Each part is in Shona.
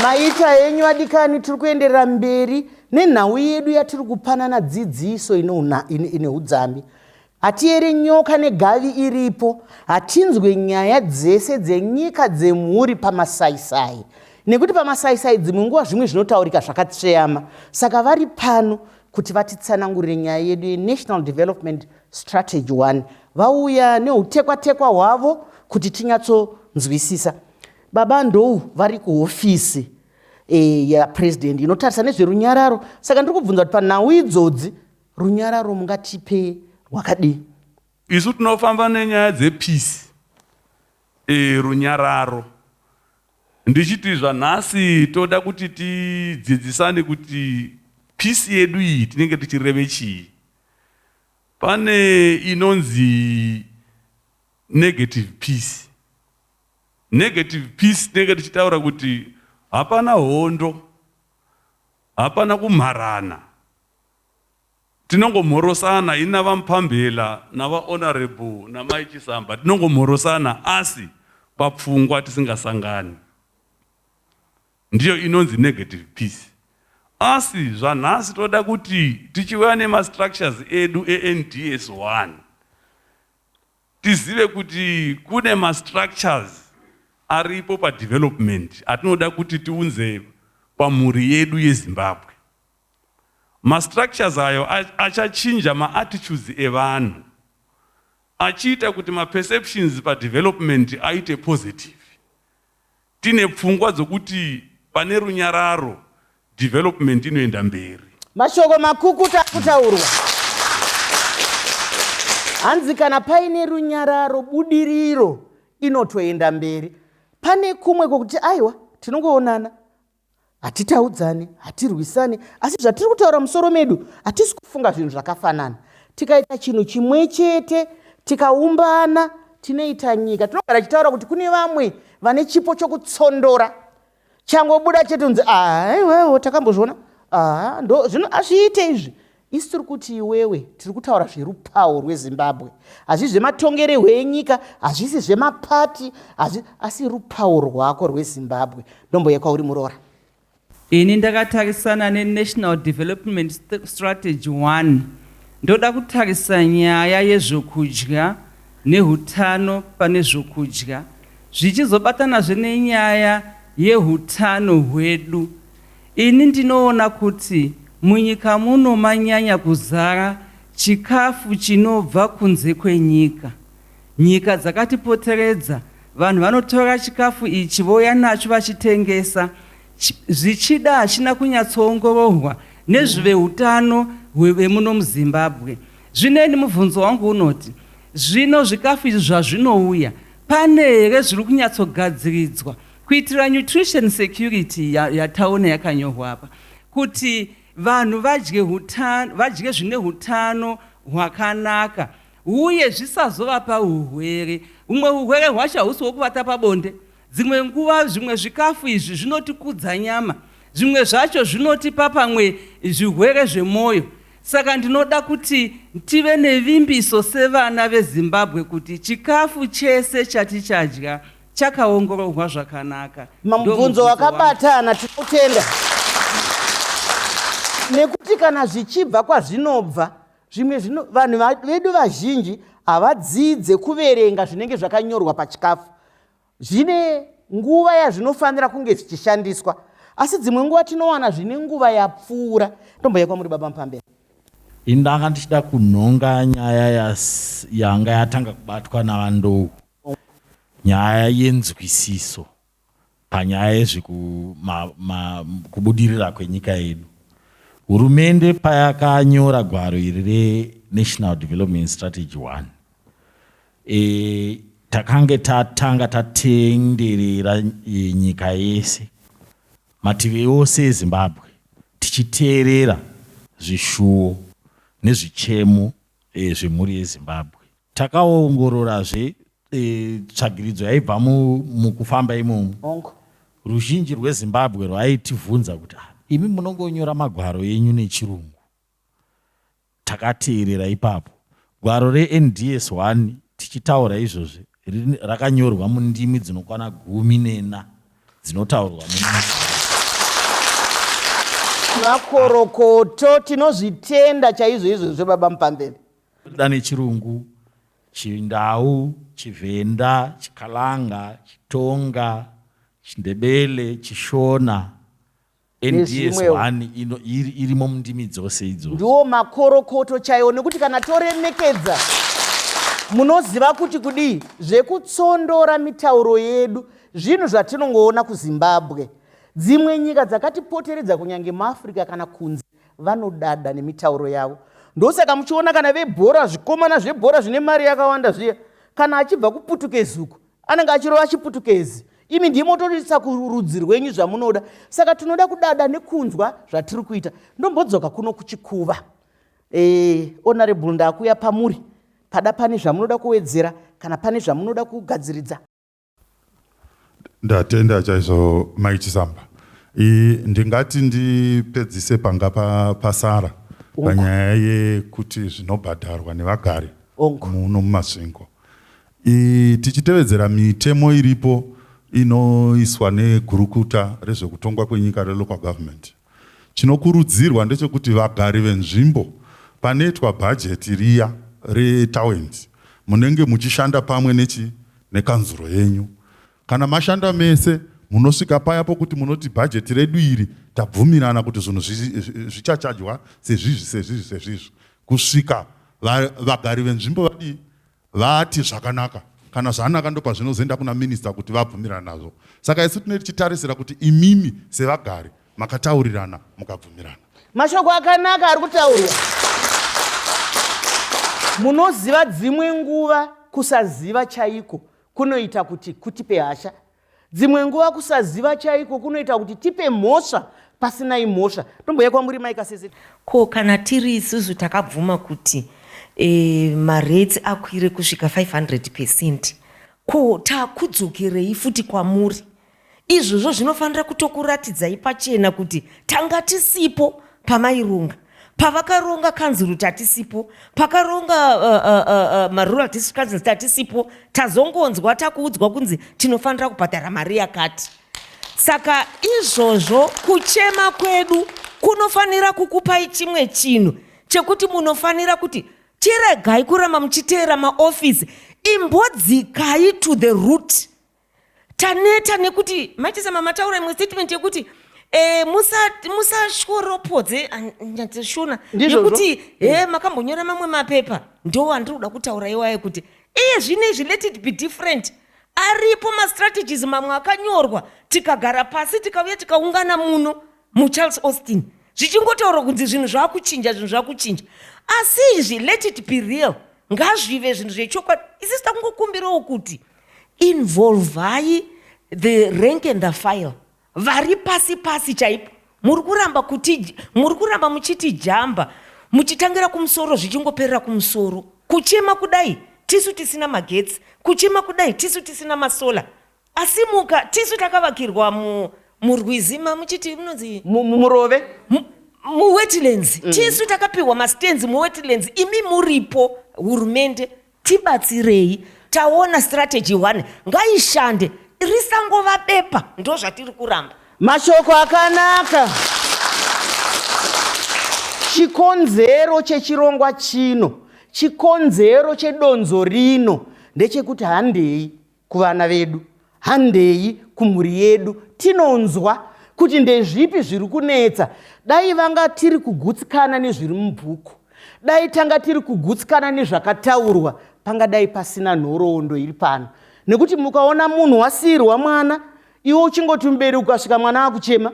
maita henyu vadikani tiri kuenderera mberi nenhau yedu yatiri kupanana dzidziso ine udzambi hatiyere nyoka negavi iripo hatinzwe nyaya dzese dzenyika dzemhuri pamasaisai nekuti pamasaisai dzimwe nguva zvimwe zvinotaurika zvakatsveyama saka vari pano kuti vatitsanangurire nyaya yedu yenational development strategy one vauya neutekwatekwa hwavo kuti tinyatsonzwisisa baba ndou vari kuhofisi e, yapresident inotarisa nezverunyararo saka ndiri kubvunza kuti panhau idzodzi runyararo mungatipe rwakadii isu tinofamba nenyaya dzepeace Eeh Runyararo ndichiti zvanhasi toda kuti tidzidzisane kuti peace yedu iyi tinenge tichireve chii. Pane inonzi negative peace. Negative peace tinenge tichitaura kuti hapana hondo, hapana kumharana, Tinongomhorosana ini na VaMphambila na Va Honourable na Mai Chisamba tinongomhorosana asi papfungwa tisingasangani. Ndiyo inonzi negative peace. Asi zvanhasi toda kuti tichiuya nema structures edu e NDS one tizive kuti kune ma structures aripo pa development atinoda kuti tiunze pamhuri yedu yeZimbabwe. Mastructures ayo achachinja maattitudes evanhu achiita kuti maperceptions padevelopment aite positive. Tine pfungwa dzokuti pane runyararo development inoenda mberi. Mashoko makukutu ari kutaurwa. Hanzi kana paine runyararo budiriro inotoenda mberi. Pane kumwe kwokuti aiwa tinongoonana Hatitaudzane, hatirwisane, asi zvatiri kutaura musoro medu hatisi kufunga zvinhu zvakafanana. Tikaita chinhu chimwe chete, tikaumbana, tinoita nyika. Tinogara tichitaura kuti kune vamwe vane chipo chokutsondora. Changobuda chete unzi, aiwawo takambozviona. Ah, ndo zvino azviite izvi. Isu tiri kuti iwewe, tiri kutaura zverupawo rweZimbabwe. Hazvisi zvematongerehwe enyika, hazvisi zvemapati, hazvi, asi rupawo rwako rweZimbabwe. Ndomboye kwauri muroora. Ini ndakatarisana neNational Development Strategy 1 ndoda kutarisa nyaya yezvokudya nehutano pane zvokudya zvichizobatanazve nenyaya yehutano hwedu. Ini ndinoona kuti munyika muno manyanya kuzara chikafu chinobva kunze kwenyika. Nyika dzakatipoteredza vanhu vanotora chikafu ichi vouya nacho vachitengesa zvichida hachina kunyatsoongororwa nezvevehutano vemuno muZimbabwe. Zvino ini mubvunzo wangu unoti zvino zvikafu izvi zvazvinouya pane here zviri kunyatsogadziridzwa Kuitira nutrition security yataona yakanyorwa apa kuti vanhu vadye hutano vadye zvine hutano hwakanaka uye zvisazovapa urwere humwe urwere hwacho hausi hwokuvata pabonde dzimwe nguva zvimwe zvikafu izvi zvinotikudza nyama zvimwe zvacho zvinotipa pamwe zvirwere zvemwoyo saka ndinoda kuti tive nevimbiso sevana vezimbabwe kuti chikafu chese chatichadya chakaongororwa zvakanaka. Mubvunzo wakabatana, tinotenda nekuti kana zvichibva kwazvinobva zvimwe zvino vanhu vedu vazhinji havadzidze kuverenga zvinenge zvakanyorwa pachikafu zvine nguva yazvinofanira kunge zvichishandiswa asi dzimwe nguva tinowana zvine nguva yapfuura ndomboya kwamuri baba mupamberi ini ndanga ndichida kunhonga nyaya yanga yatanga kubatwa navandoku Nyaya yenzwisiso panyaya yezvekubudirira kwenyika yedu. Hurumende payakanyora gwaro iri reNational Development Strategy One, e, takange tatanga tatenderera e, nyika yese, mativi ose eZimbabwe, tichiteerera zvishuwo nezvichemo e, zvemhuri yeZimbabwe. Takaongororazve e, tsvagiridzo yaibva mukufamba imomu. Hongu. Ruzhinji rweZimbabwe rwaitivhunza kuti ah, imi munongonyora magwaro enyu nechirungu. Takateerera ipapo. Gwaro reNDS 1 tichitaura izvozvi rakanyorwa mundimi dzinokwana gumi nena dzinotaurwa makorokoto tinozvitenda chaizvo izvozvo baba mupamberi Kuda nechirungu, chindau, chivenda, chikalanga, chitonga, chindebele, chishona NDS one ino irimo mundimi dzose idzo. Ndiwo makorokoto chaiwo nekuti kana toremekedza munoziva kuti kudii zvekutsondora mitauro yedu zvinhu zvatinongoona kuzimbabwe dzimwe nyika dzakatipoteredza kunyange muafrica kana kunze vanodada nemitauro yavo ndosaka muchiona kana vebhora zvikomana zvebhora zvine mari yakawanda zviya kana achibva kuputukezi uko anenge achirova chiputukezi imi ndiye motoritsa kurudzi rwenyu zvamunoda saka tinoda kudada nekunzwa zvatiri kuita ndombodzoka kuno kuchikuva e, eh, honorable ndakuya pamuri pada pane zvamunoda kuwedzera kana pane zvamunoda kugadziridza Ndatenda chaizvo mai Chisamba. I, ndingati ndipedzise panga pa, pasara panyaya yekuti zvinobhadharwa nevagari Onko. muno mumasvingo. I, tichitevedzera mitemo iripo inoiswa negurukuta rezvekutongwa kwenyika relocal government Chinokurudzirwa ndechekuti vagari venzvimbo panoitwa bhajeti riya retawindi munenge muchishanda pamwe nechi nekanzuro yenyu. Kana mashanda mese munosvika paya pokuti munoti bhajeti redu iri tabvumirana kuti zvinhu zvichachajwa sezvizvi sezvizvi sezvizvi kusvika vagari venzvimbo vadii Vati zvakanaka kana zvanaka ndopazvinozoenda kuna minister kuti vabvumirana nazvo. Saka isu tinenge tichitarisira kuti imimi sevagari makataurirana mukabvumirana. Mashoko akanaka ari kutaurwa. Munoziva dzimwe nguva kusaziva chaiko kunoita kuti kutipe hasha. dzimwe nguva kusaziva chaiko kunoita kuti tipe mhosva pasina imhosva ndomboya kwamuri maikasese ko kana tiri isusu takabvuma kuti e, marates akwire kusvika 500 percent ko takudzokerei futi kwamuri izvozvo zvinofanira kutokuratidzai pachena kuti tanga tisipo pamaironga pavakaronga kanzuru tatisipo pakaronga uh, uh, uh, uh marural district councils tatisipo tazongonzwa takuudzwa kunzi tinofanira kubhadhara mari yakati saka izvozvo kuchema kwedu kunofanira kukupai chimwe chinhu chekuti munofanira kuti chiregai kuramba muchiteera maofisi imbodzikai to the root taneta nekuti maitesama mataura imwe statement yekuti Eh, musashoropodze musa nyadzishona nekuti he eh, makambonyora mamwe mapepa ndo andiri kuda kutaura iwaye kuti iye zvine izvi let it be different aripo mastrategies mamwe akanyorwa tikagara pasi tikauya tikaungana muno mucharles austin zvichingotaurwa kunzi zvinhu zvakuchinja zvinhu zvakuchinja asi izvi let it be real ngazvive zvinhu zvechokwadi isisita kungokumbirawo kuti Involvai the rank and the file vari pasi pasi chaipo muri kuramba kuti muri kuramba muchiti jamba muchitangira kumusoro zvichingoperera kumusoro kuchema kudai tisu tisina magetsi kuchema kudai tisu tisina masola asimuka tisu takavakirwa mu murwizi mamuchiti munonzi murove muwetlands mm. tisu takapiwa mastands muwetlands imi muripo hurumende Tibatsirei taona strategy one ngaishande risangova bepa ndozvatiri kuramba. Mashoko akanaka. Chikonzero chechirongwa chino, chikonzero chedonzo rino ndechekuti handei. kuvana vedu handei kumhuri yedu tinonzwa kuti ndezvipi zviri kunetsa dai vanga tiri kugutsikana nezviri mubhuku dai tanga tiri kugutsikana nezvakataurwa pangadai pasina nhoroondo iri pano nekuti mukaona munhu wasiirwa mwana iwe uchingoti mubereki ukasvika mwana akuchema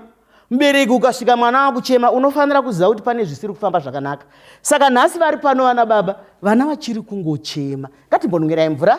Mubereki ukasvika mwana akuchema unofanira kuziva kuti pane zvisiri kufamba zvakanaka. Saka nhasi vari pano vana baba, vana vachiri kungochema. Ngatimbonungirai mvura.